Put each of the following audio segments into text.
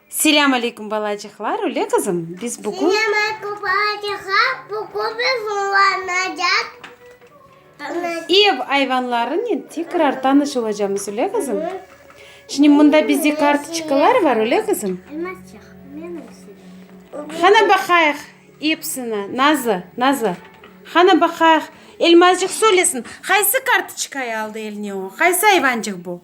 Selâm aleykum balacıqlar, öyle qızım? Biz bugün... Selâm aleykum balacıqlar, bugün biz oynaycaq. Ev ayvanlarınen tekrar tanış olacağımız, öyle qızım? Şimdi mında bizde kartoçkalar var, öyle qızım? Hana baqayıq hepsini, Nazı, Nazı. Hana baqayıq. Elmazcıq söylesin, qaysı kartoçkayı aldı eline o? Qaysı ayvancıq bu?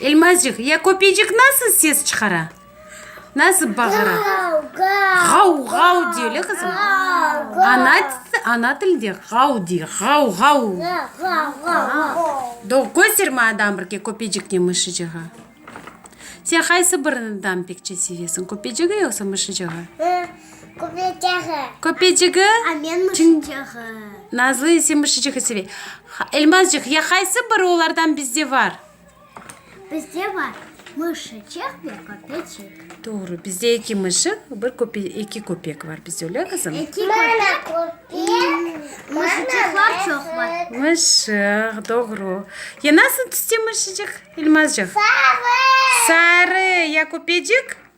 Elmazcıq, ya köpecik nasıl ses çıqara? Nasıl bağıra? Ğav-ğav dey, öyle qızım? Ana, ana tilde ğav dey, ğav-ğav. Doğru, kösterme adam bir ke köpeciknen mışıcığa. Sen qaysı birinden pekçe sevesiñ, köpecigi yoqsa mışıcığı? Köpecigi. Köpecigi. Amen muşıcığı. Nazlı ise muşıcığı sevey. Elmazcıq, ya qaysı biri olardan bizde bar? Bizde bar muşıcıq ve köpecik. Doğru, bizde eki muşıq, bir köpe, eki köpek var bizde, öyle qızım? Eki köpek. Muşıcıqlar çoq var. Muşıq, doğru. Ya nasıl tüste muşıcıq, Elmazcıq? Sarı. Sarı, ya köpecik?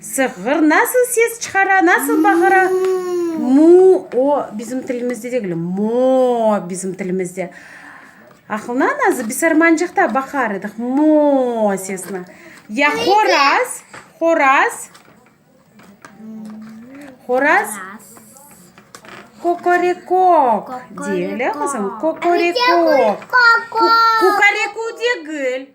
Sığır nasıl ses çıqara, nasıl bağıra? Mu-o bizim tilimizde degil, mo-o bizim tilimizde. Aqlınan azı bisarmancıqta baqar ediq mo-o sesine. Ya horaz, horaz, horaz kokorekok dey, elə qızım? Kokorekok. Kukareku degil.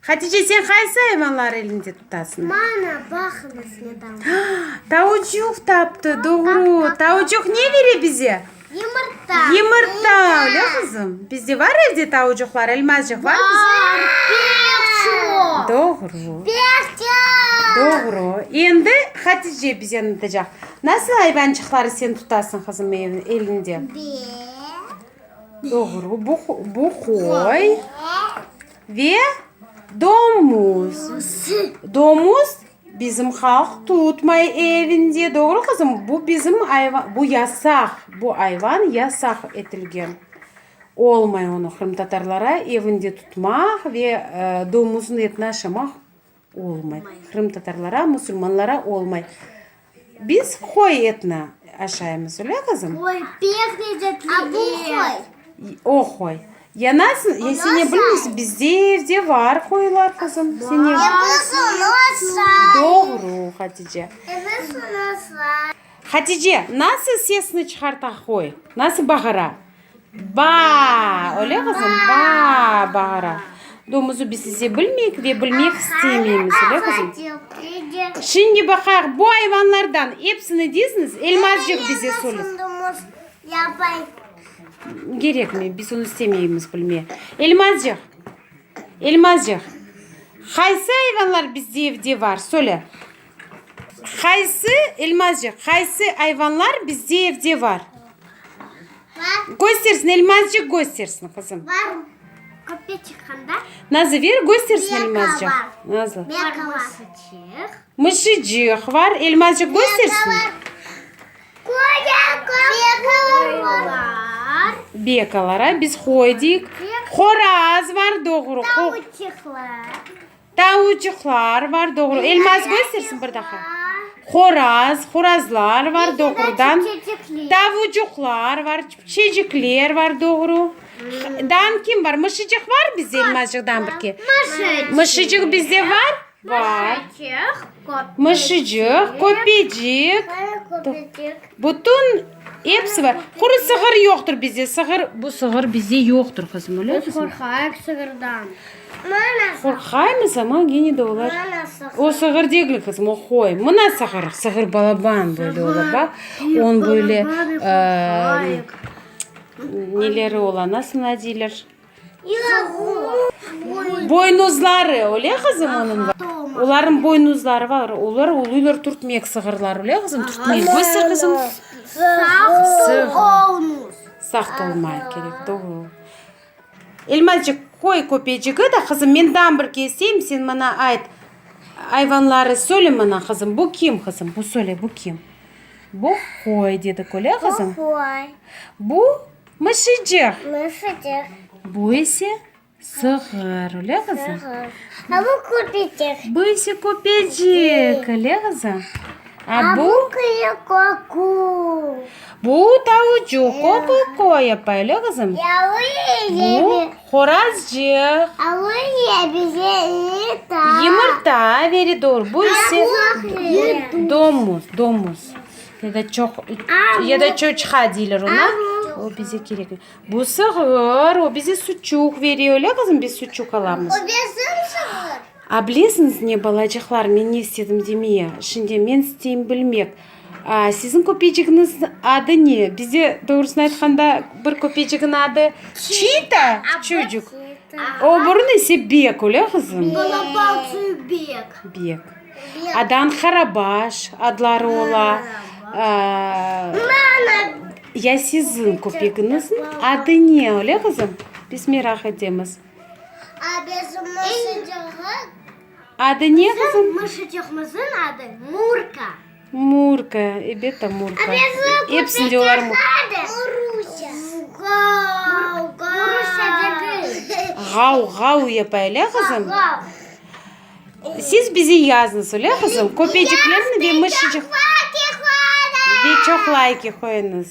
Hatice, sen qaysı ayvanları elinde tutasıñ? Mana, baqıñ, bizde tavuk. Tavucuq taptı, doğru. Tavucuq ne bere bize? Yımırta. Yımırta, öyle qızım? Bizde bar evde tavucuqlar, Elmazcıq, bar bizde? Bar, pek çoq. Doğru. Pek çoq. Doğru. Endi Hatice bize anlatacaq. Nasıl ayvançıqları sen tutasıñ, qızım, elinde? Be. Doğru, bu, bu qoy. Be. Ve domuz. Domuz bizim halq tutmay evinde. Doğru qızım? Bu bizim ayva, bu yasaq. Bu ayvan yasaq etilgen. Olmay onı qırımtatarlara evinde tutmaq ve domuzın etini aşamaq. Olmay. Qırımtatarlara, musulmanlara olmay. Biz qoy etni aşaymız, öyle qızım? Qoy, pek lezzetli et. Bu qoy. O qoy. Yanasın, ya sen ne bilmeysin, bizde evde var qoylar qızım. Sen ne bilmeysin. Doğru, Hatice. Hatice, nasıl sesini çıqarta qoy? Nasıl bağıra? Baa! Öyle qızım? Baa! bağıra. Domuzu biz size bilmeyik ve bilmek istemeymiz, öyle qızım? Şimdi baqayıq, bu ayvanlardan epsini diziñiz, Elmazcıq bize söyle. Gerekmey, biz onı istemeymiz bilmeye. Elmazcıq, Elmazcıq, qaysı ayvanlar bizde evde var, söyle. Qaysı, Elmazcıq, qaysı ayvanlar bizde evde bar? Göstersin, Elmazcıq göstersin, qızım. Var, köpke çıqqanda. Nazı, ver, göstersin, Elmazcıq. Nazlı. Belka var. Mısıcıq. Mısıcıq var. Elmazcıq göstersin. Qoya, qoy var. Bekalara biz qoy deyik. Qoraz var, doğru. Tavuçıqlar. Tavucuqlar var, doğru. Elmaz, göstersin bir daha. Horaz, horazlar var, doğrudan. Tavucuqlar var, çecikler var, doğru. Dan kim var? Mışıcıq var bizde Elmazcıqdan bir ki. Mışıcıq bizde var? Var. Mışıcıq, köpecik. Bütün hepsi var. Quru sığır yoqtır bizde. Sığır, bu sığır bizde yoqtır, qızım, öyle mi? Biz qorqayıq sığırdan. Qorqaymız, amma gene de olar, O, sığır degil, qızım, o, qoy. Mına sığır, sığır balaban, böyle ola, bax. On böyle, neleri ola, nasıl buna deyler? Boynuzları, öyle, qızım, onıñ? Olarnıñ boynuzları bar, olar uluylar, turtmek sığırları, öyle, qızım? Turtmek boysa, qızım, sığır. Sağ olmay kerek, doğru. Elmacıq, qoy, köpecigi da, qızım, menden bir keseyim, sen maña ayt, ayvanları söyle maña, qızım, bu kim, qızım, bu söyle, bu kim? Bu qoy, dedi köle, qızım. Bu qoy. Bu mışıcıq. Mışıcıq. Bu ise sığır, öyle, qızım? Sığır. A bu köpecik. Bu ise köpecik, öyle, qızım? Bu, bu, tavucuq, ko-ko-koe, pele qızım. Bu, qorazcıq. Yımırta, veri doğru, bu ise, domuz, domuz, ya da çoq, ya da çoçqa deyler ona, o bize kerek, bu, sığır, o bize suçuq veriyor, öyle qızım, biz suçuq alamız. A, bilesiñiz ne, balacıqlar, men ne istedim demeye? Şimdi men isteyim bilmek, a, siziñ köpecigiñiz adı ne? Bizde, doğrusını aytqanda, bir köpecigiñ adı Çita, Çucuk, o bürüñ ise Bek, öyle, qızım? Bek. Bek. Adan Qarabaş adları ola. Ya siziñ köpegiñizniñ adı ne, öyle, qızım? Biz meraq etemiz. Adı ne qızım? Murka, ebet ta Murka. Epsinde olar Ğav, ğav yapa, ele qızım? Siz bize yazıñız, ele qızım? Köpeciklerni ve mışıcıq Ve çoq layki qoyuñız.